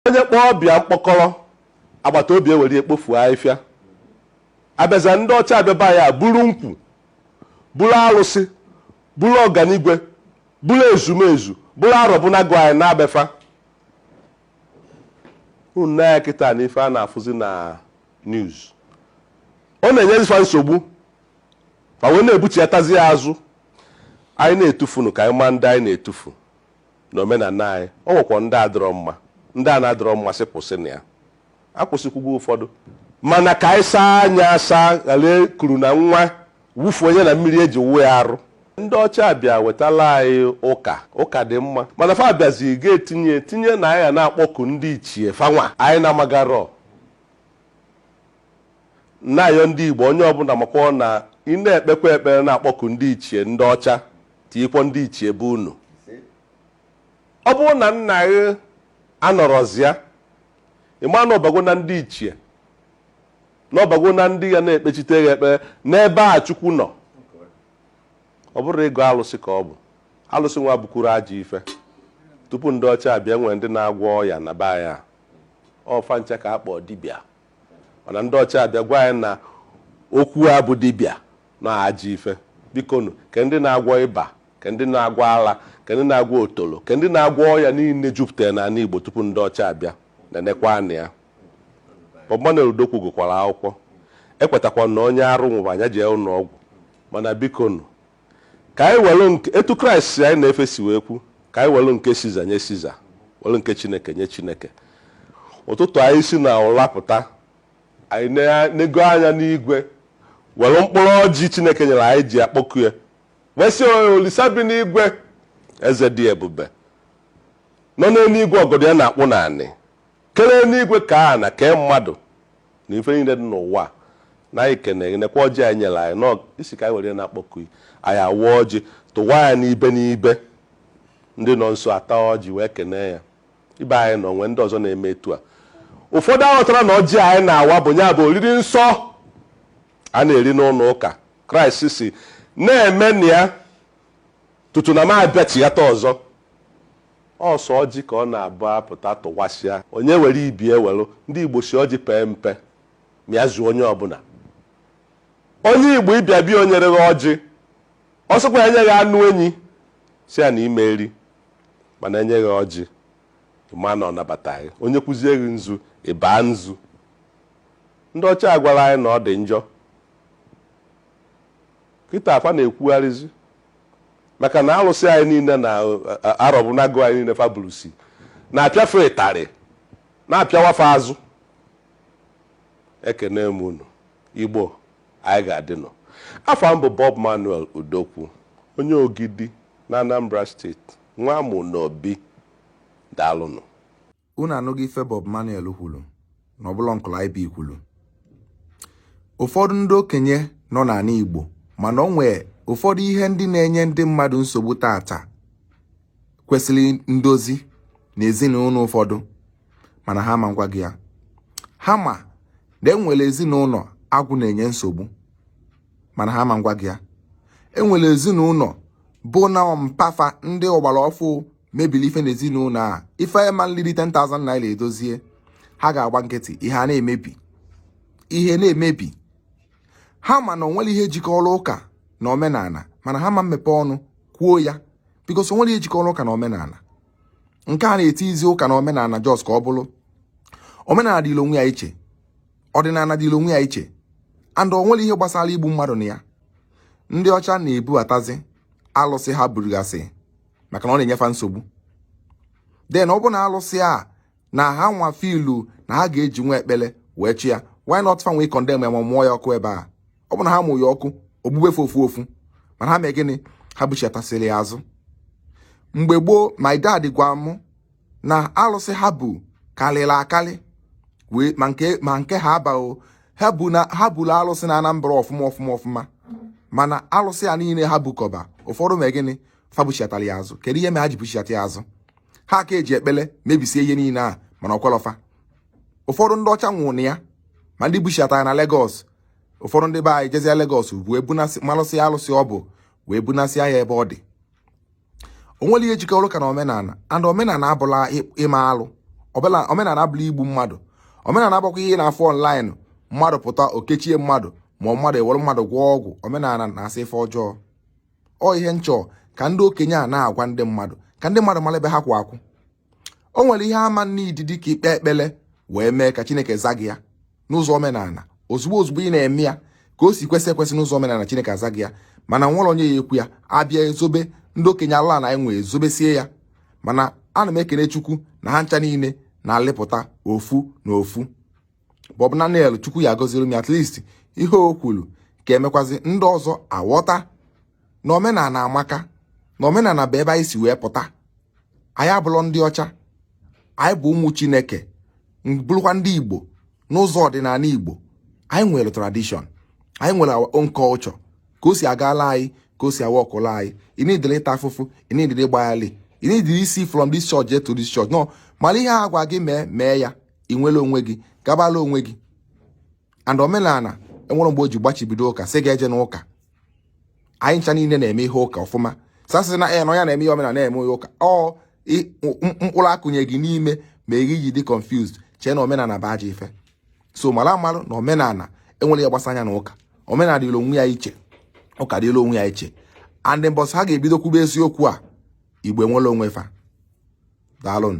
onye kpọọ ọba ya mkpọkọrọ agbata obi ewere ya kpofu ahịfịa abịaza ndị ọcha abịa be anyị a buru nkwu buru arụsị buru ọganigwe buru ezumezu buru arọbụnagụ anyị naa be fa unu nee anya kịta na ife a na-afụzi na news ọ na-enyezi fa nsogbu fa wee na-ebuchiatazi ya azụ anyị na-etufunu ka anyị maa ndị anyị na-etufu na omenala anyị o nwekwa ndị adịrọ mma ndị a na-adịrọ mma sị kwụsị na ya akwụsịkwugo ụfọdụ mana ka anyị saa anya asaa ghara kuru na nwa wufunye na mmiri e ji wụọ ya arụ ndị ọcha bịa wetala anyị ụka ụka dị mma mana fa bịazi ga-etinye tinye na anyị ga na-akpọku ndị ichie fa nwa anyị na-amagarọ Na-ayọ ndị Igbo onye ọbụla makwọ na ị na-ekpekwa ekpere na-akpọku ndị ichie ndị ọcha tiikwọ ndị ichie be unu. Ọ bụrụ na nna gị anọrọzịa, ị maa na ọbago na ndị ichie, na ọbago na ndị ga na-ekpechite gị ekpere n'ebe a Chukwu nọ. Ọ bụrọ ịgọ alụsị ka ọ bụ. Alụsị nwa abụkwurọ ajọ ife. Tupu ndị ọcha abịa, e nwere ndị na-agwọ ọya na be anyị a. Ọ fa ncha ka a kpọọ dibịa. mana ndị ọcha abịa gwa anyị na okwu a bụ dibịa na ọ ajọ ife bikonu ke ndị na-agwọ ịba ke ndị na-agwọ ala ke ndị na-agwọ otolo ke ndị na-agwọ ọya niile juputara na ala Igbo tupu ndị ọcha abịa na nekwa anya Bob Manuel Udokwu gụkwara akwụkwọ ekwetakwa na onye arụ nwụba ya jee ụlọ ọgwụ mana bikonu Ka anyị welụ nke, etu Kraịst anyị na-efe si wee kwu, ka anyị welụ nke Siza nye Siza, welụ nke Chineke nye Chineke. Ụtụtụ anyị si na ụra pụta, anyị enego anya n'igwe, welụ mkpụrụ ọjị Chineke nyere anyị ji akpọku ya, wee sị "Olisa bi n'igwe, eze dị ebube, nọ n'eluigwe ọgọdọ ya na-akpụ n'anị, kere eluigwe kee ana kee mmadụ, na ife niile dị n'ụwa na anyị kene gị nekwa ọjị i nyere anyị na ị sị ka anyị were na-akpọku gị anyị awa ọjị tụwa ya n'ibe n'ibe ndị nọ nso ata ọjị wee kene ya ibe anyị nọ nwee ndị ọzọ na-eme etu a ụfọdụ aghọtarọ na ọjị anyị na-awa bụ nya bụ oriri nsọ a na-eri n'ụlọ ụka Kraịst sị na-emenụ ya tutu na m abịachighata ọzọ Ọ sọ ọjị ka ọ na-abụ a pụta tụwasịa, onye were ibe ewelụ. Ndị Igbo sị ọjị pee mpe, ma ya zuo onye ọbụla. Onye Igbo ị bịa be ya o nyerọ gị ọjị, ọ sịkwa ya nye gị anụ enyi, sị ya na ị ma-eri. Mana o nye gị ọjị, ị maa na ọ nabata gị. O nyekwuzie gị nzu, ị baa nzu. Ndị ọcha agwala anyị na ọ dị njọ. Kịta fa na-ekwugharịzi. maka na alụsị anyị niile na arọbụnagụ anyị niile fa bulusi na-apịa fa ịtarị na-apịawa fa azụ ekene m unu igbo anyị ga-adịnụ afa m bụ Bob Manuel Udokwu onye Ogidi na Anambra State nwa amụ n'obi daalụnụ unu anụgo ife Bob Manuel kwuru na ọbụla uncle IB kwuru ụfọdụ ndị okenye nọ n'ala Igbo mana o nwee ụfọdụ ihe ndị na-enye ndị mmadụ nsogbu taata kwesịrị ndozi na ezinụlọ ụfọdụ mana ha ma ngwa gị ya ha ma na enwere ezinụlọ agwụ na-enye nsogbu mana ha ma ngwa gị ya enwere ezinụlọ bụ na mpa fa ndị ọgbara ọfụ mebiri ife n'ezinụlọ a ife ma nliri 10,000 naira edozie ha ga-agba nkịtị ihe a na-emebi ihe na-emebi ha ma na onwere ihe jikọrọ ụka na omenala mana ha ma mmepe ọnụ kwuo ya because onwere ihe jikọrọ ụka na omenala nke a na-etizi ụka na omenala just ka ọ bụrụ omenala dịrị onwe ya iche ọdịnala dịrị onwe ya iche and onwere ihe gbasara igbu mmadụ na ya ndị ọcha na-ebubatazi alụsị ha burugasị maka na ọ na-enye fa nsogbu then ọ bụ na alụsị a na ha nwa fụlụ na ha ga-eji nwa ekpere wee chi ya why not fa wee condemn ya ma mụọ ya ọkụ ebe a ọ bụ na ha mụ ya ọkụ o gbube fa ofu ofu mana ha mee gịnị ha buchiatasịrị ya azụ mgbe gboo my dad gwa mụ na alụsị ha bu karịrị akarị wee ma nke ma nke ha abaghị ha bu na ha buru alụsị na Anambra ọfụma ọfụma ọfụma mana alụsị a niile ha bukọba ụfọdụ mee gịnị fa buchiatara ya azụ kedu ihe mere ha ji buchiata ya azụ ha ka eji ekpele mebisie ihe niile a mana o kwelọ fa ụfọdụ ndị ọcha nwụrụ na ya ma ndị buchiatara na Lagos ụfọdụ ndị be anyị jezia Lagos wee bunasị malụsịa alụsị ọ bụ wee bunasịa ya ebe ọ dị onwere ihe jikọrọ ụka na omenala and omenala abụla ịme alụ ọbụla omenala abụla igbu mmadụ omenala abụkwa ihe na-afụ online mmadụ pụta o kechie mmadụ ma mmadụ ewere mmadụ gwọọ ọgwụ omenala na-asọ ife ọjọọ ọ ihe m chọ ka ndị okenye a na-agwa ndị mmadụ ka ndị mmadụ mara ebe ha kwụ akwụ o nwere ihe ama n'idi dị ka ikpe ekpere wee mee ka chineke za gị ya n'ụzọ omenala ozugbo ozugbo ị na-eme ya ka o si kwesị ekwesị n'ụzọ omenala chineke aza gị ya mana nwere onye ya-ekwu ya abịa ezobe ndị okenye ala na enwe ezobesie ya mana ana m ekene chukwu na ha ncha niile na-alịpụta ofu na ofu Bob Naniel chukwu ya gọziri m at least ihe o kwuru ka emekwazi ndị ọzọ aghọta na omenala amaka na omenala bụ ebe anyị si wee pụta anyị abụrọ ndị ọcha anyị bụ ụmụ chineke bụrụkwa ndị igbo n'ụzọ ọdịnala igbo anyị nwere tradition anyị nwere our own culture ka o si agala anyị ka o si a-workụla anyị ị needirọ ịta afụfụ ị needirọ ịgbaghalị ị needirọ isi from this church to this church no mara ihe a gwa gị mee mee ya ị nwere onwe gị gabala onwe gị and omenala enwerọ mgbe o ji gbachibido ụka sị gị ejena ụka anyị ncha niile na-eme ihe ụka ọfụma sasị na ya eh, na ya na-eme ihe omenala na-eme ihe ụka ọ mkpụrụ a kụnye gị n'ime ma ị ji dị confused chee na omenala bụ ajọ ife so mara amalụ na omenala enwerọ ihe gbasara ya na ụka omenala dịrị onwe ya iche ụka dịrị onwe ya iche and mbọsị ha ga-ebido kwube eziokwu a igbo enwere onwe fa daalụ nụ